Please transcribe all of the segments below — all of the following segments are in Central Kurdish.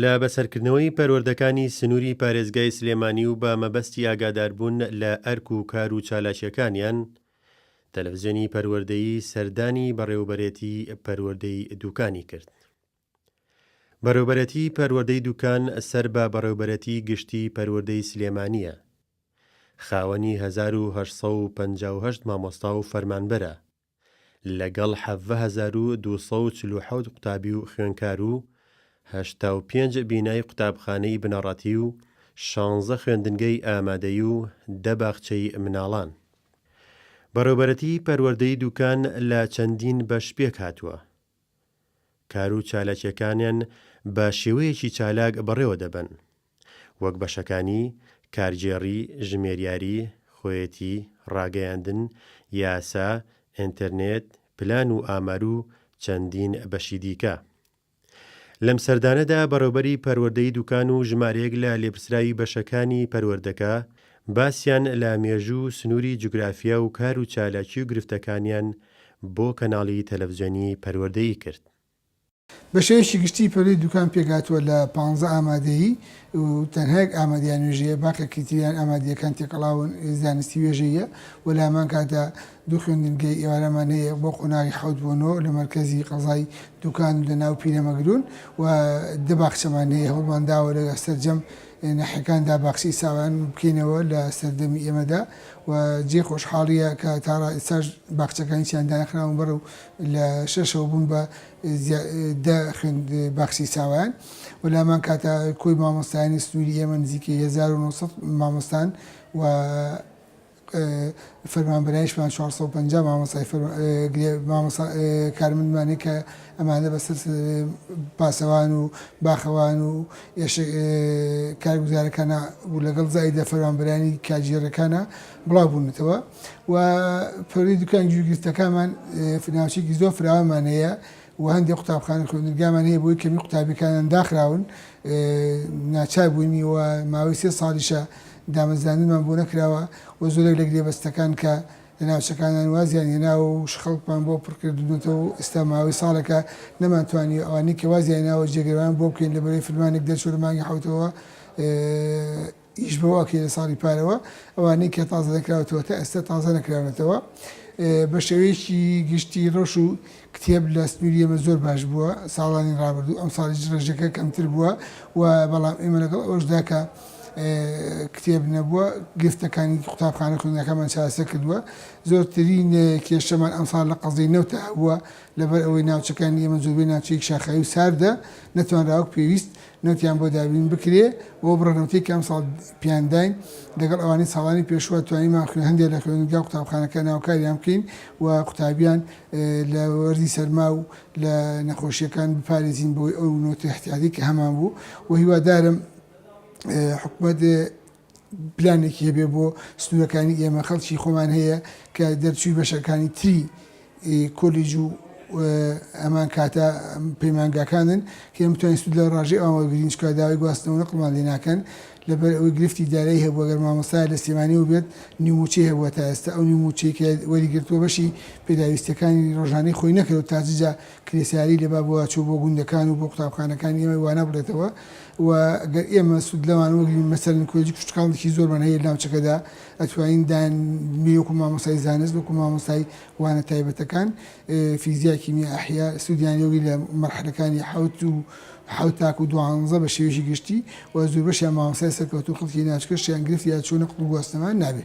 لە بەسەرکردنەوەی پەروەردەکانی سنووری پارێزگای سلێمانی و بە مەبەستی ئاگاداربوون لە ئەرک و کار و چالاکییەکانیان، تەلەفزیۆنی پەروەردەیی سەردانی بەڕێوەبەرێتی پەروەردەی دوکانی کرد. بەڕێوەبەرێتی پەروەردەی دوکان سەر بە بەڕێوەبەرێتی گشتی پەروەردەی سلێمانییە. خاوەنی هەزار و هەشت سەد و پەنجا و هەشت مامۆستا و فەرمانبەرە. لەگەڵ حەڤە هەزار و دوو سەد و چل و حەوت قوتابی و خوێندکار و هەشتا و پێنج بینای قوتابخانەی بنەڕەتی و شانزە خوێندنگەی ئامادەیی و دە باخچەی مناڵان. بەڕێوبەرەتیی پەروەردەی دووکان لە چەندین بەش پێکهاتووە، کار و چالاکییەکانیان بە شێوەیەکی چالاک بەڕێوە دەبەن، وەک بەشەکانی، کارگێڕی، ژمێریاری، خۆیەتی، ڕاگەیاندن، یاسا، ئینترنێت، پلان و ئامار و چەندین بەشی دیکە. لەم سەردانەدا بەڕێوبەری پەروەردەی دوکان و ژمارەیەک لە لێپرسراوی بەشەکانی پەروەردەکە باسیان لە مێژوو و سنووری جوگرافیا و کار و چالاکی و گرفتەکانیان بۆ کەناڵی تەلەفزیۆنی پەروەردەی کرد. بە شێوەیەکی گشتی پەروەردەی دوکان پێکهاتووە لە پانزە ئامادەیی و تەنها یەک ئامادەیان وێژەیە، باقێکی تریان ئامادەییەکان تێکەڵاون زانستی وێژەییە و لە هەمان کاتدا دوو خوێندنگەی ئێوارەمان هەیە بۆ قۆناغی حەوت بۆ نۆ لە مەرکەزی قەزای دوکان و لە ناو پیرەمەگرون و دە باخچەمان هەیە هەوڵمانداوە لە سەرجەم ناحیەکاندا باخچەی ساوایان بکەینەوە لە سەردەمی ئێمەدا و جێی خۆشحاڵییە کە تا ئێستاش باخچەکان هیچیان دانەخراون بەرەو لە شەشەوە بوون بە دە خوێند باخچەی ساوایان و لامان کاتە کۆی مامۆستایانی سنووری ئێمە نزیکەی 1900 مامۆستان و فەرمانبەرایشمان 450 مامۆستای کارمەندمانێک کە ئەمانە بەسەر پاسەوان و باخەوان و ئێشێ کارگوزارەکانا و لەگەڵ زایدە فەرمانبەرانی کارگێڕەکانا بڵاو بوونەتەوە و پەروەردەی دوکان گوێگرتنەکانمان ناوچەیەکی زۆر فراوانمان هەیە و هەندێک قوتابخانە خوێندنگامان هەیە بۆی کەمی قوتابیەکانان داخراون ناچار بووینی و ماوەی سێ ساڵیشە دامەزراندنمان بۆ نەکراوە و زۆرێک لە گرێبەستەکان کە لە ناوچەکانان وازیان هێناوە و شخڵکمان بۆ پڕکردونەتەوە و ئێستا ماوەی ساڵێکە نەمان توانیوە ئەوانەی کە وازیان هێناوە جێگرەوەیان بۆ بکەین لە بەرەی فرمانێک دەرچوە لە مانگی حەوتەوە ئیش بەوە ئەکرێت لە ساڵی پارەوە ئەوانەی کە تازە نەکراوەتەوە تا ئێستا تازە نەکراونەتەوە بە شێوەیەکی گشتی ڕەش و کتێب لە سنووری ئێمە زۆر باش بووە ساڵانی ڕابردوو، ئەمساڵیش ڕێژەکە کەمتر بووە و بەڵام ئێمە لەگەڵ ئەوەشدا کە کتێب نەبووە گرفتەکانی قوتابخانە خوێندنەکەمان چارەسەر کردووە زۆرترین کێشەمان ئەمساڵ لە قەزەی نەوتە هەبووە لەبەر ئەوەی ناوچەکانی ئێمە زۆربەی ناوچەیەک شاخاوی و ساردە نەتوانراوەک پێویست نەوتیان بۆ دابین بکرێ بۆ بڕە نەوتەی کە ئەمساڵ پیان داین لەگەڵ ئەوانەی ساڵانی پێشوە توانیمان خوێ هەندێک لە خوێندگا و قوتابخانەکان هاوکاریان بکەین و قوتابیان لە وەرزی سەرما و لە نەخۆشیەکان بپارێزین بۆی ئەو نەوتە احتیاتی کە هەمان بوو و هیوادارم حکومەت پلانێکی هەبێ بۆ سنوورەکانی ئێمە خەڵکی خۆمان هەیە کە دەرچووی بەشەکانی تری کۆلیج و ئەمان کاتە پەیمانگاکانن کە ئێمە بتوانین سود لە ڕژێ ئەوان وەرگین چکە داوای گواستنەوە نەقڵمان لێ ناکەن لەبەر ئەوەی گرفتی دارایی هەبوو گەر مامۆستا لە سلێمانی و بێت نیوموچەی هەبووە تا ئێستا ئەو نیوموچەی کە وەریگرتووە بەشی پێداویستیەکانی ڕۆژانەی خۆی نەکرد و تاججا کرێسیاری لە بابەوە چوو بۆ گوندەکان و بۆ قوتابخانەکانی ئێمەی وا نابڕێتەوە و گەر ئێمە سوود لەوانەوە بگرین مەسەلەن کۆلێجی کشتوکاڵێکی زۆرمان هەیە ناوچەکەدا ئەتوانین دان بنێین وەکوو مامۆستای زانست وەکوو مامۆستای وانە تایبەتەکان فیزیا کیمیا ئەحیا سوودیان لێ وەرگرین لە مەرحەلەکانی حەوت و حەوت تاکوو دوانزە بە شێوەیەکی گشتی و زۆربەشیان مامۆستای سەرکەوتوو خەڵکی ناوچەکەشیان گرفت یا چوونە قوتبگواستنەوە نابێ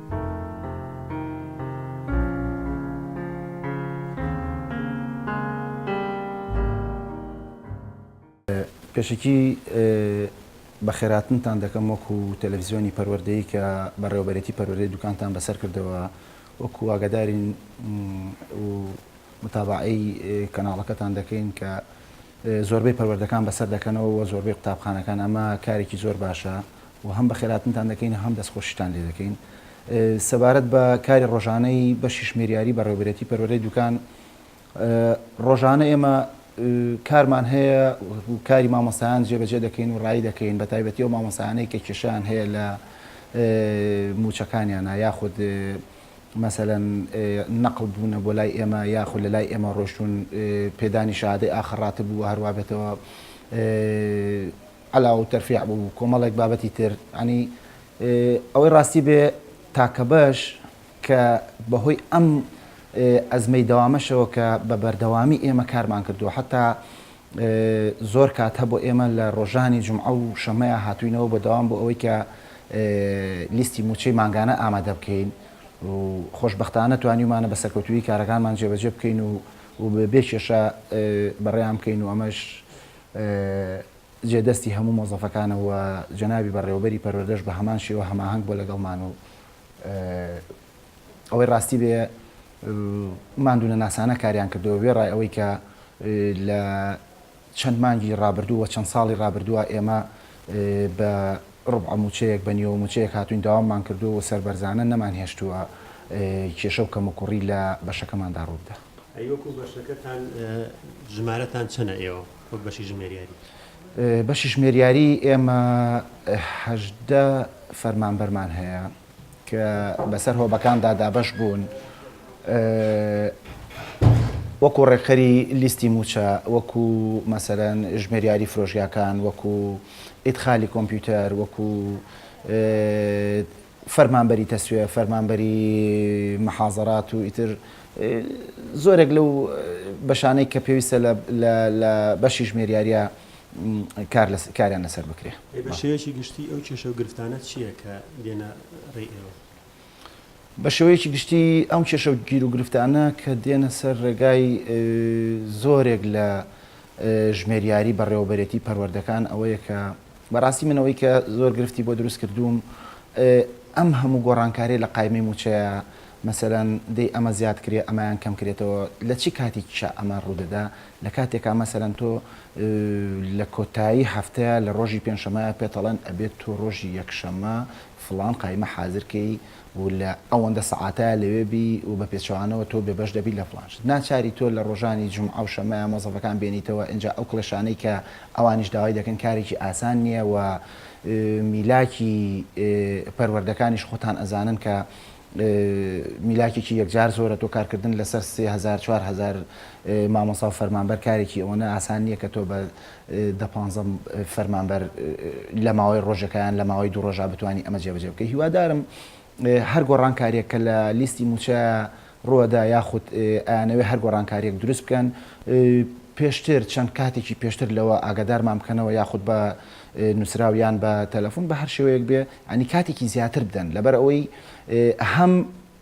پێشەکی بەخێرهاتنتان دەکەم وەکو تەلەفزیۆنی پەروەردەیی کە بەڕێوەبەرێتی پەروەردەی دوکانتان بەسەر کردەوە وەکو ئاگادارین و متابعەی کەناڵەکەتان دەکەین کە زۆربەی پەروەردەکان بەسەر دەکەنەوە و زۆربەی قوتابخانەکان ئەمە کارێکی زۆر باشە و هەم بەخێرهاتنتان دەکەین هەم دەستخۆشیتان لێ دەکەین سەبارەت بە کاری ڕۆژانەی بەشی شمێریاری بەڕێوەبەرێتی پەروەردەی دوکان ڕۆژانە ئێمە کارمان هەیە و کاری مامۆستایان جێبەجێ دەکەین و ڕای دەکەین بە تایبەتی و مامۆستانەی کە کێشیان هەیە لە موچەکانیانە یاخود مەسەەن نەقل بوونە بۆ لای ئێمە یاخود لە لای ئێمە ڕۆشتون پێدانی شادەی ئاخڕاتە بوو هەروابێتەوە عەلا و تەرفیع بوو و کۆمەڵێک بابەتی تر، یەعنی ئەوەی ڕاستی بێ تاکەبەش کە بەهۆی ئەم ئەزمەی دەوامەشەوە کە بە بەردەوامی ئێمە کارمان کردووە حەتا زۆر کات هەبوو ئێمە لە ڕۆژانی جومعە و شەممەیا هاتووینەوە بە دەوام بۆ ئەوەی کە لیستی مووچەی مانگانە ئامادە بکەین و خۆشبەختانە توانیومانە بە سەرکەوتوویی کارەکانمان جێبەجێ بکەین و و بێ کێشە بەڕێیان بکەین و ئەمەش جێ دەستی هەموو مۆزەفەکانە و جەنابی بەڕێوەبەری پەروەردەش بە هەمان شێوە هەماهەنگ بووە لەگەڵمان و ئەوەی ڕاستی بێ ماندوونەناسانە کاریان کردەوە وێڕای ئەوەی کە لە چەند مانگی ڕابردوو و چەند ساڵی ڕابردووە ئێمە بە ڕوبعە مووچەیەک بە نیوە مووچەیەک هاتوین داواممان کردو و سەربەرزانە نەمانهێشتووە کێشە و کەموکوڕی لە بەشەکەماندا ڕووبدا. ئەی وەکو بەشەکەتان ژمارەتان چەنە ئێوە وەک بەشی ژمێریاری؟ بەشی ژمێریاری ئێمە هەژدە فەرمانبەرمان هەیە کە بەسەر هۆبەکاندا دابەش بوون وەکو ڕێکخەری لیستی مووچە وەکو مەسەرەن ژمێریاری فرۆژگاکان وەکو ئیدخالی کۆمپیوتەر وەکو فەرمانبەری تەسویە، فەرمانبەری محازەرات و ئیتر زۆرێک لەو بەشانەی کە پێویستە لە بەشی ژمێریارییە کاریان لەسەر بکرێ. بە شێوەیەکی گشتی ئەو کێشە و گرفتانە چییە کە دێنە ڕێی ئێوە؟ بە شێوەیەکی گشتی ئەم کێشە و گیر و گرفتانە کە دێنە سەر ڕێگای زۆرێک لە ژمێریاری بەڕێوەبەرێتی پەروەردەکان ئەوەیە کە بەڕاستی من ئەوەی کە زۆر گرفتی بۆ دروست کردووم ئەم هەموو گۆڕانکاریە لە قایمەی مووچەیە مەسەلەن دەی ئەمە زیاد کرێ ئەمایان کەم کرێتەوە لە چی کاتێکیشا ئەمە ڕوودەدا لە کاتێکا مەسەلەن تۆ لە کۆتایی هەفتەیە لە ڕۆژی پێنجشەمایە پێتەڵێن ئەبێت تۆ ڕۆژی یەکشەمە فڵان قایمە حازرکەی و لە ئەوەندە سەعاتایا لەوێ بی و بە پێچەوانەوە تۆ بێ بەش دەبی لە فڵان شت. ناچاری تۆ لە ڕۆژانی جومعە و شەممەیا مۆزەفەکان بێنیتەوە ئینجا ئەو کڵێشانەی کە ئەوانیش داوای دەکەن کارێکی ئاسان نیە و میلاکی پەروەردەکانیش خۆتان ئەزانن کە میلاکێکی یەکجار زۆرە تۆ کارکردن لەسەر سێ هەزار چوار هەزار مامۆستا و فەرمانبەر کارێکی ئەوەنە ئاسان نیە کە تۆ بە دە پانزە فەرمانبەر لە ماوەی ڕۆژێکا یان لە ماوەی دوو ڕۆژا بتوانی ئەمە جێبەجێ بکەی هیوادارم هەر گۆڕانکاریێک کە لە لیستی موچە ڕوەدا یاخود ئەیانەوێ هەر گۆڕانکاریێک دروست بکەن پێشتر چەند کاتێکی پێشتر لەوە ئاگادارمان بکەنەوە یاخود بە نووسراویان بە تەلەفۆن بە هەر شێوەیەک بێ ئەنی کاتێکی زیاتر بدەن لەبەر ئەوەی هەم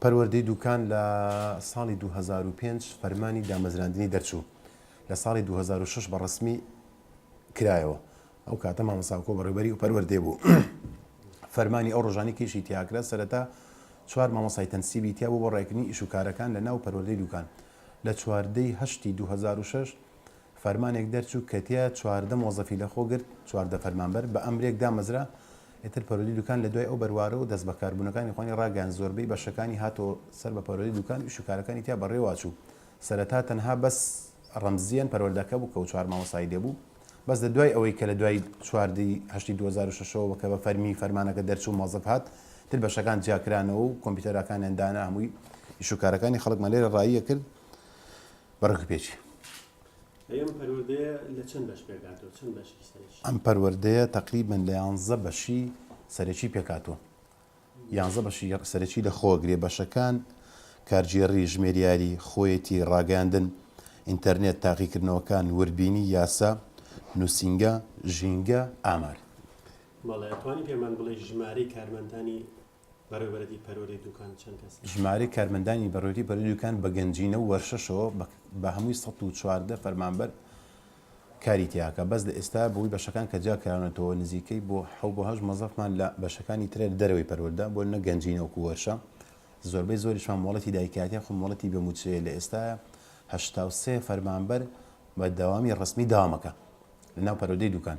پەروەردەی دووکان لە ساڵی دوو هەزار و پێنج فەرمانی دامەزراندنی دەرچوو لە ساڵی دوو هەزار و شەش بە ڕەسمی کرایەوە ئەو کاتە مامەساکۆ بەڕێبەری و پەروەردەی بوو فەرمانی ئەو ڕۆژانی کێشی تیاکرا سەرەتا چوار مامەسای تەنسیبی تیا بۆ بۆ ڕێکنی ئیش و کارەکان لە ناو پەروەردەی دووکان لە چواردەی هەشتی 2006 فەرمانێک دەرچوو کە تیا چواردە مۆزەفی لە خۆ گرت، چواردە فەرمانبەر بە ئەمرێک دامەزرا، ئیتر پەروەردی دوکان لە دوای ئەو بەروارە و دەست بەکار بوونەکانی خۆانی ڕاگەیاند زۆربەی بەشەکانی هاتەوە سەر بە پەروەردی دوکان و ئیش و کارەکانی تیا بەڕێوە چوو سەرەتا تەنها بەس ڕەمزیەن پەروەردەکە بوو کە و چوار مامۆستای لێ بوو بەس لە دوای ئەوەی کە لە دوای چوار ی هەشتی دوو هەزار و شەش ەوە کە بە فەرمی فەرمانەکە دەرچوو مۆزەف هات تر بەشەکان جیا کرانەوە و کۆمپیوتەراکانیان دانا هەمووی ئیش و کارەکانی خەڵکمان لێرە ڕاییە کرد بە ڕێک پێچی. ئەم پەروەردەیە لە چەند بەش پێکهاتووە؟ چەند بەشی سەرەکی؟ ئەم پەروەردەیە تەقریبەن لە یانزە بەشی سەرەکی پێکهاتووە. یانزە بەشی سەرەکی لە خۆوە گرێ بەشەکان، کارگێڕی، ژمێریاری، خۆیەتی، ڕاگەیاندن، ئینتەرنێت، تاقیکردنەوەکان، وردبینی، یاسا، نووسینگە، ژینگە، ئامار. بەڵێ، ئەتوانی پێمان بڵێی ژمارەی کارمەندانی بەڕێوەبەرەی پەروەردەی دوکان چەند کەسە؟ ژمارەی کارمەندانی بەڕێوەبەری پەروەردەی دوکان بە گەنجینە و وەرشەشەوە بە هەمووی سەد و چواردە فەرمانبەر کاری تیاکە بەس لە ئێستا بەهۆی بەشەکان کە جیاکراونەتەوە نزیکەی بۆ حەو بۆ هەشت مۆزەفمان لە بەشەکانی ترە لە دەرەوەی پەروەردە بۆ نە گەنجینە وەکو وەرشە زۆربەی زۆریشمان مۆڵەتی دایکایەتی یاخود مۆڵەتی بێ موچەیە لە ئێستا هەشتا و سێ فەرمانبەر بە دەوامی ڕەسمی داوامەکە. لەناو پەروەدەی دوکان.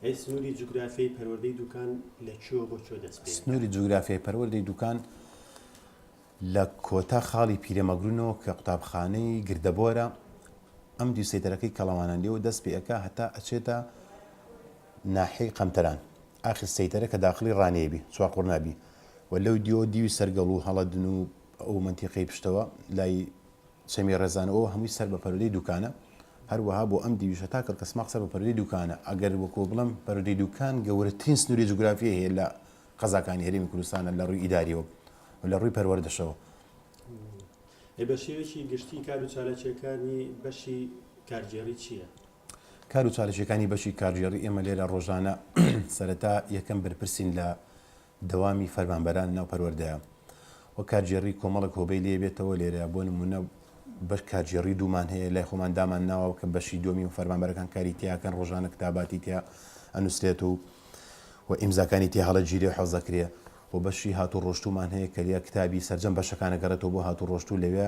ئەی سنوری جوگرافیای پەروەردەی دوکان لە کوێوە بۆ کوێ دەست پێ دەکات؟ سنوری جوگرافیای پەروەردەی دوکان لە کۆتا خاڵی پیرەمەگرونەوە کە قوتابخانەی گردەبۆرە ئەم دیو سەیتەرەکەی کەڵەوانان لێوە دەست پێ ئەکا هەتا ئەچێتە ناحیەی قەنتەران ئاخر سەیتەرە کە داخڵی ڕانیە بی چوار قوڕنا بی و لەو دیوە دیوی سەرگەڵو هەڵەدن و ئەو مەنتیقەی پشتەوە لای چەمی ڕێزان ئەوە هەمووی سەر بە پەرودەی دوکانە هەروەها بۆ ئەم دیویشە تا کەڵکەسماق سەر بە پەرودەی دوکانە ئەگەر وەکو بڵێم پەرودەی دوکان گەورەترین سنوری جوگرافی هەیە لە قەزاکانی هەرێمی کوردستانە لە ڕووی ئیداریەوە و لە ڕووی پەروەردەشەوە. ئەی بە شێوەیەکی گشتی کار و چالاکیەکانی بەشی کارگێڕی چیە؟ کار و چالاکیەکانی بەشی کارگێڕی ئێمە لێرە ڕۆژانە سەرەتا یەکەم بەرپرسین لە. دەوامی فەرمانبەرانی ناو پەروەردەیە و کارگێڕیی کۆمەڵێک هۆبەی لێ بێتەوە، لێرە بۆ نموونە بەش کارگێڕیی دوومان هەیە، لای خۆمان دامان ناوە کە بەشی دووەمی و فەرمانبەرەکان کاری تیا ئەکەن، ڕۆژانە کتاباتی تیا ئەنووسرێت و و ئیمزاکانی تیا هەڵەگیرێ و حەفزە کرێ و بەشی هاتووڕۆشتوومان هەیە کە لێ کتابی سەرجەم بەشەکان ئەگەڕێتەوە بۆ هاتووڕۆشتوو لەوێ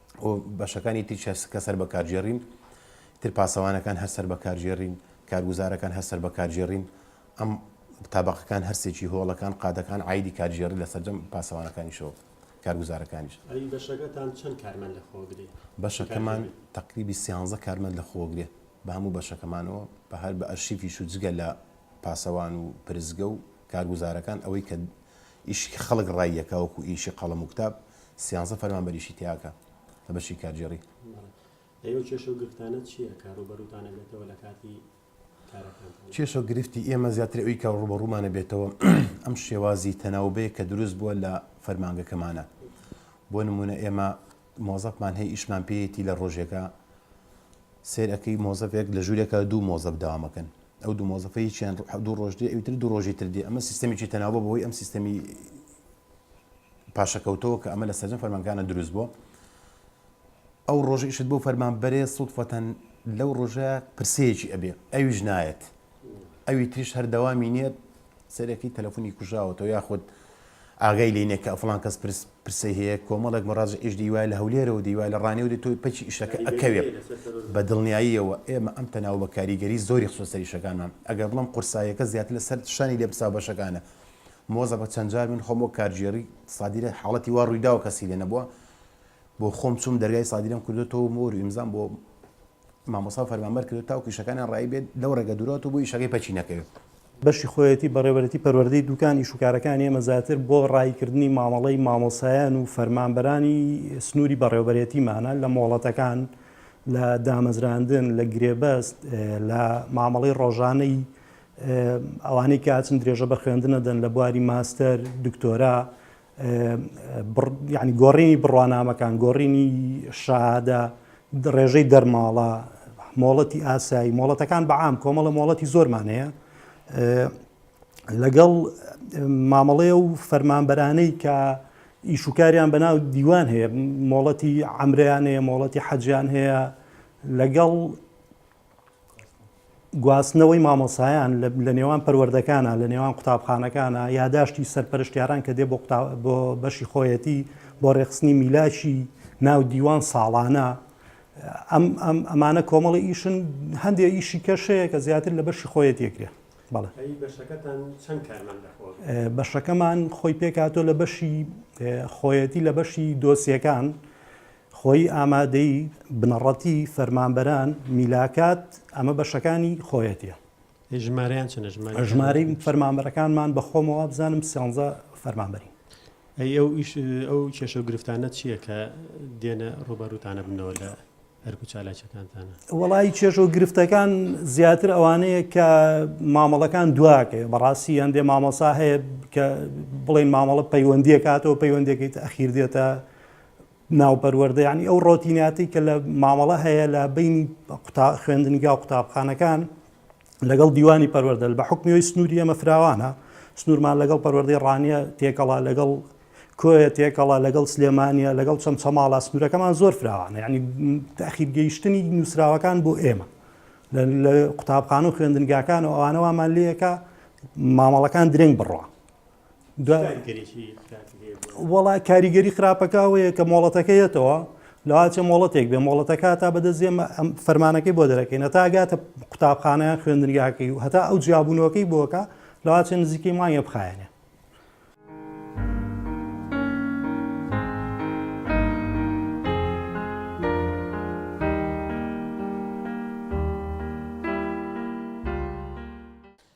و بەشەکانی تریش هەر کە سەر بە کارگێڕین تر پاسەوانەکان هەر سەر بە کارگێڕین کارگوزارەکان هەر سەر بە کارگێڕین ئەم تابقەکان هەرسێکی هۆڵەکان قادەکان ئایدی کارگێڕی لە سەرجەم پاسەوانەکانیشەوە کارگوزارەکانیش ئەی بەشەکەتان چەند کارمەند لە خۆگرێ بەشەکەمان تقریبی سیانزە کارمەند لە خۆگرێ بە هەموو بەشەکەمانەوە بە هەر بە ئەرشیفیش و جگە لە پاسەوان و پرزگە و کارگوزارەکان ئەوەی کە ئیشی خەڵک ڕاییەکە وەکو ئیشی قەڵم و کتاب سیانزە فەرمانبەریشی تیاکە لە بەشی کارگێڕی. بەڵێ ئێوە کێشە و گرفتانە چیە کە ڕووبەروتان ئەبێتەوە لە کاتی کارەکانتان؟ کێشە و گرفتی ئێمە زیاتر ئەوی کە ڕووبەڕوومان ئەبێتەوە ئەم شێوازی تەناوبەیە کە دروست بووە لە فەرمانگەکەمانە بۆ نمونە ئێمە مۆزەفمان هەیە ئیشمان پێیەتی لە ڕۆژێکە سێر ئەەکەی مۆزەفێک لە ژوورێکە دوو مۆزەف داوامەکەن ئەو دوو مۆزەفەیەکیان دوو ڕۆژ دێ ئەوتر دوو ڕۆژی تر دێ ئەمە سیستەمێکی تەناوبە بۆی ئەم سیستەمی پاشەکەوتەوە کە ئەمە لە سەرجەم فەرمانگانە دروست بووە ئەو ڕۆژە ئیشت بۆ فەرمان بەرێ سوودفەتەن لەو ڕۆژە پرسەیەکی ئەبێ ئەویش نایەت ئەوی تریش هەردەوامی نیت سەرەکەی تەلەفۆنی کوژاوەتەوە یاخود ئاگای لینێک کە ئەفلان کەس پرسی هەیە کۆمەڵێک مەڕاز ئیش دیوای لە هەولێرەوە دیوای لە ڕانێ و دی تۆی پچی ئیشەکە ئەکەوێت بە دڵنیاییەوە ئێمە ئەم تەناو بە کاریگەری زۆری خسۆ سەریشەکانمان ئەگەر بڵم قورسایەکە زیاتر لەسەر شانی لێ بسا بەشەکانە مۆزەپە چەند جار من خۆم وەک کارگێڕی سادیرە حاڵەتی وا ڕوویداوە کەسی لێ نەبووە بۆ خۆم چووم دەرگای سادیرەم کردێتەوە مۆر و ئیمزام بۆ مامۆسا فەرمانبەر کرد تاوکو ئیشەکانیان ڕایی بێت لەو ڕێگە دوورەوەتەوە بۆ ئیشەکەی پەکی نەکەوێت. بەشی خۆیەتی بەڕێوەرێتی پەروەردەی دوکان ئیش و کارەکانی ئێمە زیاتر بۆ ڕاییکردنی مامەڵەی مامۆسایان و فەرمانبەرانی سنووری بەڕێوەبەرێتیمانە لە مۆڵەتەکان لە دامەزراندن لە گرێبەست لە مامەڵەی ڕۆژانەی ئەوانەی کە ئەچن درێژە بە خوێندن ئەدەن لە بواری ماستەر، دکتۆرا، یعنی گۆڕینی بڕوانامەکان، گۆڕینی شادە، ڕێژەی دەرماڵە، مۆڵەتی ئاسایی، مۆڵەتەکان بە عام کۆمەڵە مۆڵەتی زۆرمان هەیە. لەگەڵ مامەڵەیە و فەرمانبەرانەی کە ئیشوکاریان بەناو دیوان هەیە مۆڵەتی ئەمریان هەیە مۆڵەتی حەجیان هەیە لەگەڵ گواستنەوەی مامۆسایان لە نێوان پەروەردەکانە لە نێوان قوتابخانەکانە یاداشتی سەرپەرشتیاران کە دێ بۆ بۆ بەشی خۆیەتی بۆ ڕێخستنی میلاکی ناو دیوان ساڵانە ئەم ئەمانە کۆمەڵی ئیشن هەندێک ئیشی کەشەیە کە زیاتر لە بەشی خۆیەت یەکرێ بەڵێ بەشەکەمان خۆی پێکاتۆ لە بەشی خۆیەتی لە بەشی دۆسیەکان خۆی ئامادەی بنەڕەتی فەرمانبەران، میلاکات، ئەمە بەشەکانی خۆیەتی. ژمارەیان چەنە ژمارەی ژمارەی فەرمانبەرەکانمان بە خۆمەوە بزانم سیانزە فەرمانبەرین ئەی ئەو ئیش ئەو کێشە و گرفتانە چییە کە دێنە ڕوبەروتانە بنەوە لە هەرکو چالاکەکانتانە وڵی کێش و گرفتەکان زیاتر ئەوانەیە کە مامەڵەکان دواکە بەڕاستی هەندێ مامەسا هەیە کە بڵێن مامەڵە پەیوەندیەکاتەوە پەیوەندەکەیت ئەخیر دێتە ناوپەروەردە یعنی ئەو ڕۆتیناتی کە لە مامەڵە هەیە لە بینی قوتا خوێندنگا و قوتابخانەکان لەگەڵ دیوانی پەروەردە بە حکمیەوەی سنووری ئەمە فراوانە سنوورمان لەگەڵ پەروەردەی ڕانیە تێکەڵا لەگەڵ کۆیە تێکەڵا لەگەڵ سلێمانە لەگەڵ چەم چەماڵا سنوورەکەمان زۆر فراوانە ینی تاخیر گەیشتنی نووسراوەکان بۆ ئێمە لە قوتابخان و خوێندنگاکان و ئەوانەوەمان لەکە مامەڵەکان درنگ بڕە وەڵا کاریگەری خراپەکە ئەوەیە کە مۆڵەتەکە یەتەوە لەواچە مۆڵەتێک بێ مۆڵەتەکە تا بەدەستێ فەرمانەکەی بۆ دەرەکەین تا گاتە قوتابخانەیان خوێندنگاکەی و هەتا ئەو جیابوونەوەکەی بۆکە لەواچە نزیکەی مایە بخایەنێ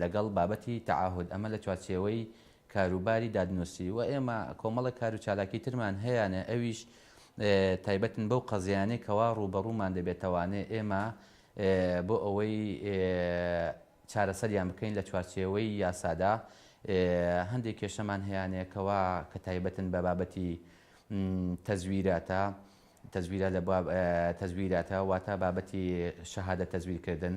لەگەڵ بابەتی تەعاهود، ئەمە لە چوارچێوەی کاروباری دادنووسی و ئێمە کۆمەڵێک کار و چالاکی ترمان هەیانە ئەویش تایبەتن بەو قەزیانەی کەوا ڕووبەڕوومان دەبێتەوانێ ئێمە بۆ ئەوەی چارەسەریان بکەین لە چوارچێوەی یاسادا هەندێک کێشەمان هەیانەیە کەوا کە تایبەتن بە بابەتی تەزویراتە تەزویرە لە تەزویراتە واتە بابەتی شەهادە تەزویرکردن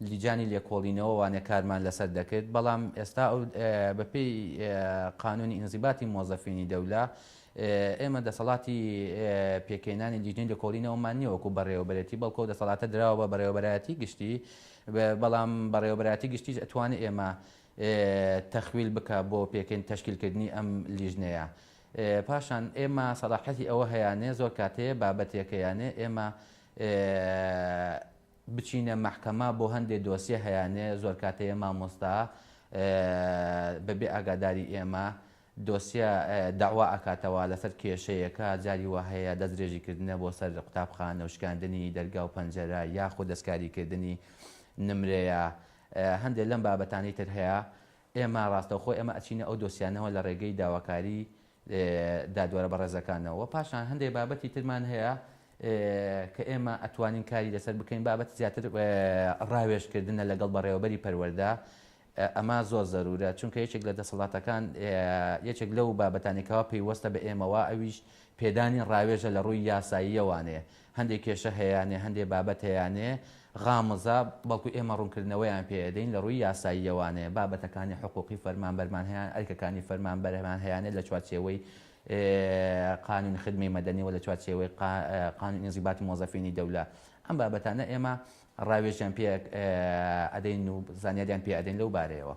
لیجانی لێکۆڵینەوە وانە کارمان لەسەر دەکرد بەڵام ئێستا ئەو بە پێی قانونی ئینزیباتی مۆزەفینی دەولە ئێمە دەسەڵاتی پێکەینانی لیژنەی لێکۆڵینەوەمان نیە وەکو بەڕێوەبەرێتی بەڵکۆ دەسەڵاتە دراوە بە بەڕێوەبەرایەتی گشتی بەڵام بەڕێوەبەرایەتی گشتیش ئەتوانێت ئێمە تەخویل بکە بۆ پێکەین تەشکیلکردنی ئەم لیژنەیە پاشان ئێمە سەڵاحەتی ئەوە هەیانێ زۆر کاتەیە بابەتێکەیانێ ئێمە بچینە مەحکەمە بۆ هەندێ دۆسیە هەیانێ زۆرکاتەیە مامۆستا بەبێ ئاگاداری ئێمە دۆسیە داوا ئەکاتەوە لەسەر کێشەیەکە جاری واهەیە دەست درێژی کردنە بۆ سەر قوتابخانە و شکاندنی دەرگا و پەنجەرە یاخود دەستکاری کردنی نمرەیە هەندێ لەم بابەتانەی تر هەیە ئێمە ڕاستەوخۆ ئێمە ئەچینە ئەو دۆسیانەوە لە ڕێگەی داواکاری دادوەرە بەڕێزەکانەوە، پاشان هەندێک بابەتی ترمان هەیە کە ئێمە ئەتوانین کاری لەسەر بکەین، بابەتی زیاتر ڕاوێژکردنە لەگەڵ بەڕێوەبەری پەروەردە، ئەمە زۆر زەروورە، چونکە یەکێک لە دەسەڵاتەکان یەکێک لەو بابەتانەی کەوا پەیوەستە بە ئێمەوە ئەویش پێدانی ڕاوێژە لە ڕووی یاساییەوانێ، هەندێ کێشە هەیانێ، هەندێ بابەت هەیانێ غامضە، بەڵکو ئێمە ڕوونکردنەوەیان پێ ئەدەین لە ڕووی یاساییەوانێ، بابەتەکانی حقووقی فەرمانبەرمان هەیان، ئەرکەکانی فەرمانبەرمان هەیانێ لە چوارچێوەی قانون خدمەی مەدەنی و لە چوارچێوەی قانون انضباط موظفین دولە، ئەم بابەتانە ئێمە ڕاوێژیان پێ ئەدەین و زانیاریان پێ ئەدەین لەو بارەیەوە.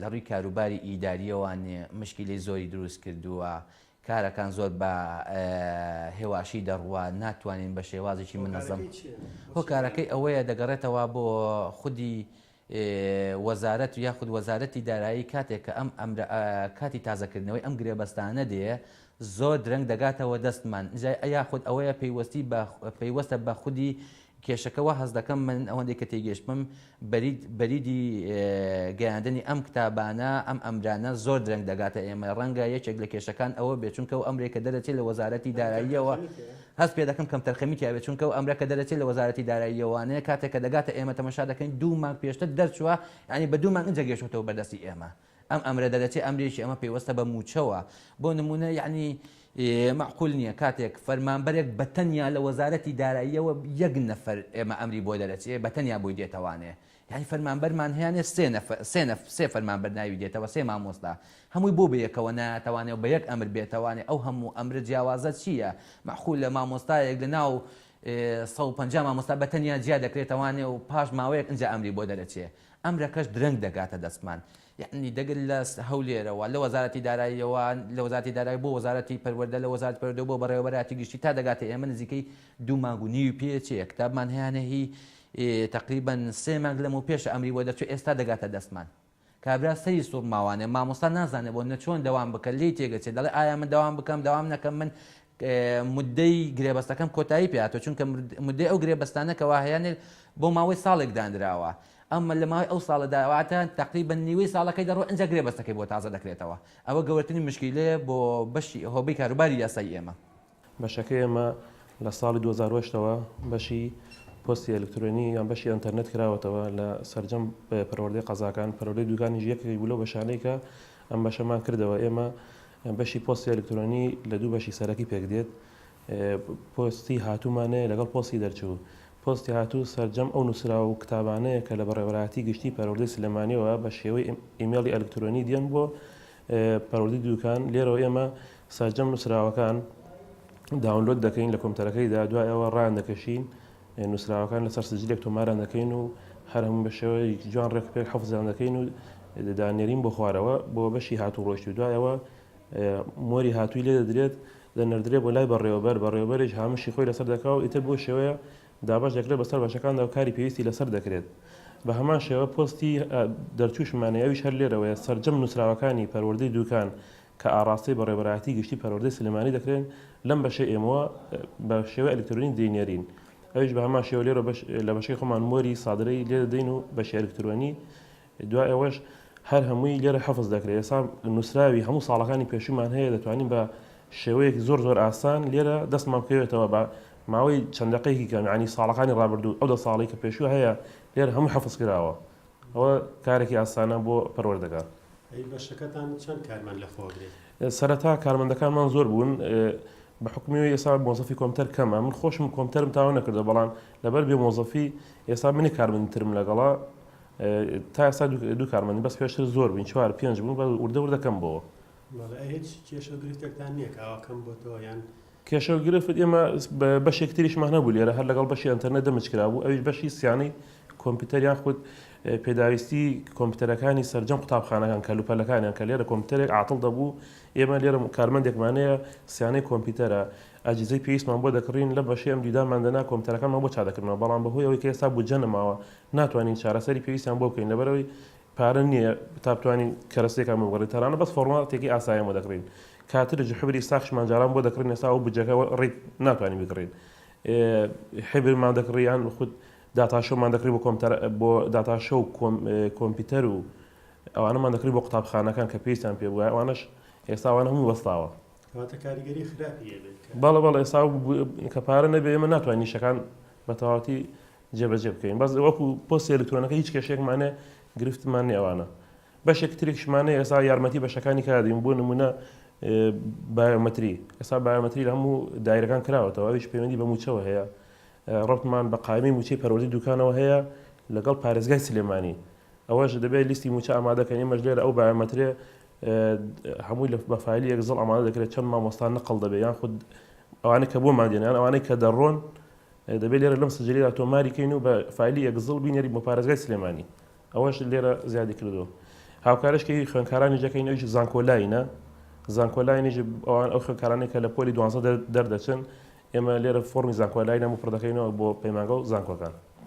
لە ڕووی کاروباری ئیدارییەوە مشکیلەی زۆری دروست کردووە، کارەکان زۆر بە هێواشی دەڕوا، ناتوانین بە شێوازێکی منەزەم. هۆکارەکەی ئەوەیە دەگەڕێتەوە بۆ خودی وەزارەت یاخود وەزارەتی دارایی کاتێک کە ئەم ئەمرە کاتی تازەکردنەوەی ئەم گرێبەستانە دێ زۆر درەنگ دەگاتەوە دەستمان یاخود ئەوەیە پەیوەستی بە پەیوەستە بە خودی کێشەکە وا هەست دەکەم من ئەوەندەی کە تێگەشتبم بەرید بەریدی گەیاندنی ئەم کتابانە ئەم ئەمرانە زۆر درەنگ دەگاتە ئێمە ڕەنگە یەکێک لە کێشەکان ئەوە بێت چونکە ئەو ئەمرێک کە دەرەچێت لە وەزارەتی داراییەوە هەست پێ دەکەم کەمتەرخەمی تیا بێت چونکە ئەو ئەمرە کە دەرەچێت لە وەزارەتی داراییەوانەیە کاتێک کە دەگاتە ئێمە تەمەشا دەکەین دوو مانگ پێشتر دەرچووە یانی بە دوو مانگ ئینجا گەیشتووەتەوە بەردەستی ئێمە ئەم ئەمرە دەرەچێ ئەمرێکی ئەمە پەیوەستە بە مووچەوە بۆ نموونە یەعنی مەعقول نییە کاتێک فەرمانبەرێک بە تەنیا لە وەزارەتی داراییەوە یەک نەفەر ئێمە ئەمری بۆ دەرەچێ بە تەنیا بۆی دێتەوانێ یەعنی فەرمانبەرمان هەیانێ سێ نەفەر سێ نەفەر سێ فەرمانبەر ناوی دێتەوە سێ مامۆستا هەمووی بۆ بەیەکەوە نایاتەوانێ و بە یەک ئەمر بێتەوانێ ئەو هەموو ئەمرە جیاوازە چییە مەعقولە مامۆستایەک لە ناو سەد و پەنجا مامۆستا بە تەنیا جیا دەکرێتەوانێ و پاش ماوەیەک ئینجا ئەمری بۆ دەرەچێ ئەمرەکەش درەنگ دەگاتە دەستمان. یەعنی دەگەن لە هەولێرەوە، لە وەزارەتی داراییەوە، لە وەزارەتی دارایی بۆ وەزارەتی پەروەردە، لە وەزارەتی پەروەردە بۆ بەڕێوەبەرایەتی گشتی تا دەگاتە ئێمە نزیکەی دوو مانگ و نیوی پێچێ. کتابمان هەیانە هی تەقریبەن سێ مانگ لەمەو پێشە ئەمری بۆ دەرچوو ئێستا دەگاتە دەستمان. کابرا سەری سوڕماوانێ، مامۆستا نازانێ بۆ نەچۆن دەوام بکە لێی تێگەچێ دەڵێ ئایا من دەوام بکەم دەوام نەکەم من موددەی گرێبەستەکەم کۆتایی پێهاتووە، چونکە موددەی ئەو گرێبەستانە کە واهەیانێت بۆ ماوەی ساڵێک دانراوە، ئەم لە ماوەی ئەو ساڵەدا واتە تەقریبەن نیوەی ساڵەکەی دەڕۆ ئینجا گرێبەستەکەی بۆ تازە دەکرێتەوە، ئەوە گەورەترین مشکیلەیە بۆ بەشی هۆبەی کاروباری یاسایی ئێمە. بەشەکەی ئێمە لە ساڵی دوو هەزار و هەشت ەوە بەشی پۆستی ئەلکترۆنی یان بەشی ئەنتەرنێت کراوەتەوە لە سەرجەم پەروەردەی قەزاکان، پەروەردەی دوکانیش یەکێک بوو لەو بەشانەی کە ئەم بەشەمان کردەوە ئێمە بەشی پۆستی ئەلکترۆنی لە دوو بەشی سەرەکی پێک دێت پۆستی هاتوومانەیە لەگەڵ پۆستی دەرچوو پۆستی هاتوو سەرجەم ئەو نووسراوە و کتابانەیە کە لە بەڕێوەراتی گشتی پەروەردەی سلێمانیەوە بە شێوەی ئیمێڵی ئەلکترۆنی دێن بۆ پەروەردەی دووکان لێرەوە ئێمە سەرجەم نووسراوەکان داونلۆد دەکەین لە کۆمپیوتەرەکەیدا دوای ئەوە ڕاندەکەشین نووسراوەکان لەسەر سجلێک تۆماران دەکەین و هەر هەموو بە شێوەیەکی جوان ڕێکوپێک حەفزیان دەکەین و دەیاننێرین بۆ خوارەوە بۆ بەشی هاتووڕۆیشت و دوایەوە مۆری هاتووی لێ دەدرێت دەنەردرێت بۆ لای بەڕێوەبەر بەڕێوەبەریش هامشی خۆی لەسەر دەکا و ئیتر بۆ شێوەیە دابەش دەکرێت بەسەر بەشەکاندا و کاری پێویستی لەسەر دەکرێت بە هەمان شێوە پۆستی دەرچووشمانەیە ئەویش هەر لێرەوەیە سەرجەم نووسراوەکانی پەروەردەی دووکان کە ئاڕاستەی بەڕێوەبەرایەتی گشتی پەروەردەی سلێمانی دەکرێن، لەم بەشەی ئێمەوە بە شێوەی ئەلیکترۆنی دەینێرین، ئەویش بە هەمان شێوە لێرە لە بەشەی خۆمان مۆری سادرەی لێ دەدەین و بەشی ئەلیکترۆنی دوای ئەوەش هەر هەمووی لێرە حەفز دەکرێت، ئێستا نووسراوی هەموو ساڵەکانی پێشوومان هەیە دەتوانین بە شێوەیەکی زۆر زۆر ئاسان لێرە دەستمان بکەوێتەوە بە ماوەی چەند دەقەیەکی کەم، یەعنی ساڵەکانی ڕابردوو ئەو دە ساڵەی کە پێشوو هەیە لێرە هەمووی حەفز کراوە، ئەوە کارێکی ئاسانە بۆ پەروەردەگار. ئەی بەشەکەتان چەند کارمەند لەخۆگرێت؟ سەرەتا کارمەندەکانمان زۆر بوون بە حکومی ئێستا مۆزەفی کۆمتەر کەمە من خۆشم کۆمتەرم تاوە نەکردە بەڵام لەبەر بێ مۆزەفی ئێستا منی کارمەندترم لەگەڵا تا ئێستا دوو کارمەنی بەس پێشتر زۆر بین چوار پێنج بوون بە وردە وردەکەم بۆەوە هیچ کێشە گرفتێکتان نییە کاواکەم بۆتەوە یان کێشەو گرفت ئێمە بەشێکی تریشمان هەبوو لێرە هەر لەگەڵ بەشی ئەنتەرنێت دەمج کرابوو ئەویش بەشی سیانەی کۆمپیوتەر یان خود پێداویستی کۆمپیوتەرەکانی سەرجەم قوتابخانەکان کەلوپەلەکانیان کە لێرە کۆمپیوتەرێک عاتڵ دەبوو ئێمە لێرە کارمەندێکمانەیە سیانەی کۆمپیوتەرە ئەجیزەی پێویستمان بۆ دەکڕین لە بەشی ئەم دیدامان دەنا کۆمپیوتەرەکانمان بۆ چادەکردنەوە بەڵام بەهۆی ئەوەی کە ئێستا بودجە نەماوە ناتوانین چارەسەری پێویستیان بۆ بکەین لەبەرەوەی پارە نیە تا بتوانین کەرەستەیەکان بۆ بکڕین تارانە بەس فۆڕما تێکی ئاسایان بۆ دەکڕین کاترج حبری ساخشمان جاران بۆ دەکڕین ئێستا ئەو بودجەکە ڕیک ناتوانین بکڕین حبرمان دەکڕی یان خود داتاشۆمان دەکڕی بۆ کۆمتەر بۆ داتاشۆ و کۆمپیوتەر و ئەوانەمان دەکڕی بۆ قوتابخانەکان کە پێویستیان پێ بووە ئەوانەش ئێستا ئەوانە هەموو وەستاوە واتە کاریگەری خراپی هەبێت بەڵێ بەڵێ ئێستا کە پارە نەبێ ئێمە ناتوانین نیشەکان بە تەواوەتی جێبەجێ بکەین بەس وەکو پۆستی ئەلیکترۆنەکە هیچ کێشەیەکمان نیە گرفتمان نیە ئەوانە بەشێکی ترێکشمانە ئێستا یارمەتی بەشەکانی کادین بۆ نمونە بایۆمەتری ئێستا بایۆمەتری لە هەموو دایرەکان کراوەتەوە ئەویش پەیوەندی بە موچەوە هەیە ڕبمان بە قایمی موچەی پەروەردی دوکانەوە هەیە لەگەڵ پارێزگای سلێمانی ئەوەش دەبێت لیستی موچە ئامادەکەن ئێمەش لێرە ئەو بایۆمەترێ هەمووی لە بەفالی یەکزڵ ئامادە دەکرێت چەند مامۆستان نقل دەبێت یان خود ئەوانە کە بۆ مادێنیان ئەوانەی کە دەڕۆن دەبێت لێرە لەم سجلەیەدا تۆماری کەین و بە فایلی ئێگزڵ بینێرین بۆ پارێزگای سلێمانی ئەوەش لێرە زیادی کردووە هاوکارش کە خوێنکارانی جەکەین ئەوش زانکۆلاینە زانکۆلاینیش ئەوان ئەو خوێنکارانی کە لە پۆلی دوانزە دەردەچن ئێمە لێرە فۆرمی زانکۆلاینە و پڕدەکەینەوە بۆ پەیمانگە و زانکۆکان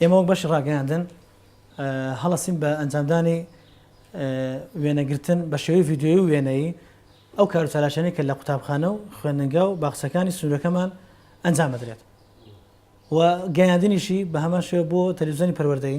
ئێمە وەک بەشی ڕاگەیاندن هەڵەسین بە ئەنجامدانی وێنەگرتن بە شێوەی ڤیددیوی و وێنەی ئەو کارچالاشانی کە لە قوتابخانە و خوێندنگا و باخچەکانی سنوورەکەمان ئەنجام بدرێت و گەیاندنیشی بە هەمان شێوە بۆ تەلویزیۆنی پەروەردەی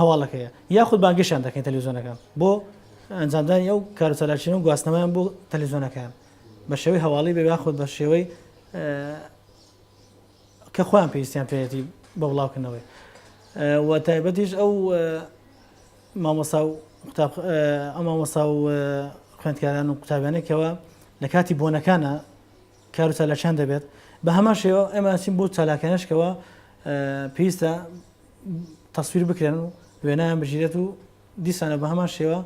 هەواڵەکەیە یاخود بانگێشتیان دەکەین تەلەویزیۆنەکان بۆ ئەنجامدانی ئەو کار و چالاکییانە و گواستنەوەیان بۆ تەلەویزیۆنەکەیان بە شێوەی هەواڵی بێ یاخود بە شێوەی کە خۆیان پێویستیان پێێتی بە بڵاوکردنەوەی و تایبەتیش ئەو مامۆسا و ئەمامۆسا و خوێندکاران و قوتابیانێکەوە لە کاتی بۆنەکانە کار و چالاکیان دەبێت بە هەمان شێوە ئێمە ئەچین بۆ چالاکانش کەەوە پێویستە تەسویر بکرێن و وێنایان بژیرێت و دیسانە بە هەمان شێوە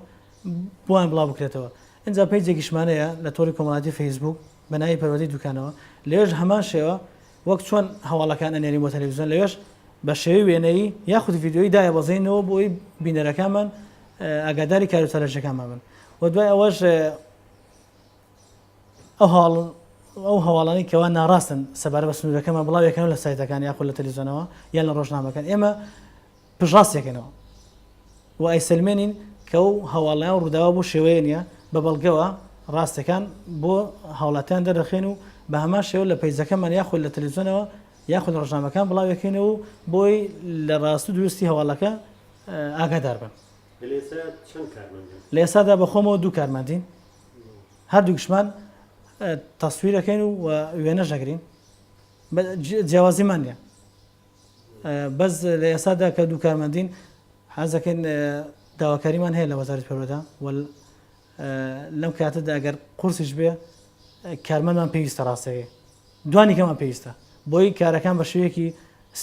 بۆیان بڵاو بکرێتەوە اینجا پێی جێگیشمانەیە لە تۆری کۆمەڵاتی فەیسبوک بەناوی پەروەدەی دوکانەوە لێژ هەمان شێوە وەک چۆن هەواڵەکان ئەنێری بۆ تەلەویزیۆن لەوێش بە شێوی وێنەیی یاخود یددیوی دایە بەزینەوە بۆی بینەرەکانمان ئاگاداری کارو چالاکیەکانمان بن و دوای ئەوەش ئەو هەواڵانەی کەوا ناڕاستن سەبارە بە سنوورەکەمان بڵاو یەکەنەوە لە سایتەکان یاخود لە تەلیزۆنەوە یان لە ڕۆژنامەکان ئێمە پژڕاستێکەکەنەوە و ئایسلمێنین کە و هەواڵیان ڕووداوە بۆ شێوەیە نیە بە بەڵگەوە ڕاستەکان بۆ هاوڵاتیان دەرەخێن و بە هەمان شێوە لە پیزەکەمان یاخود لە تەلویزیۆنەوە یاخود ڕژنامەکان بڵاوەکەین و بۆی لە ڕاست و دروستی هەواڵەکە ئاگادار بن لە ئێسادا بەخۆمەوە دوو کارماندین هەردووکشمان تەسویرەکەین و وێنەش دەگرین جیاوازیمان نیە بەس لە ئێسادا کە دوو کارمەندین حەزەکەین داواکاریمان هەیە لە وەزارت پەرۆدا لەم کاتەدا ئەگەر قورسیش بێ کارمەندمان پێویستە ڕاستەکەی دوانی کەمان پێویستە بۆی کارەکان بە شوەیەکی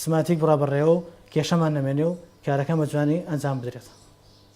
سماتیک بڕابڕێەوە و کێشەمان نەمێنێ و کارەکە مەجوانی ئەنجام بدرێت.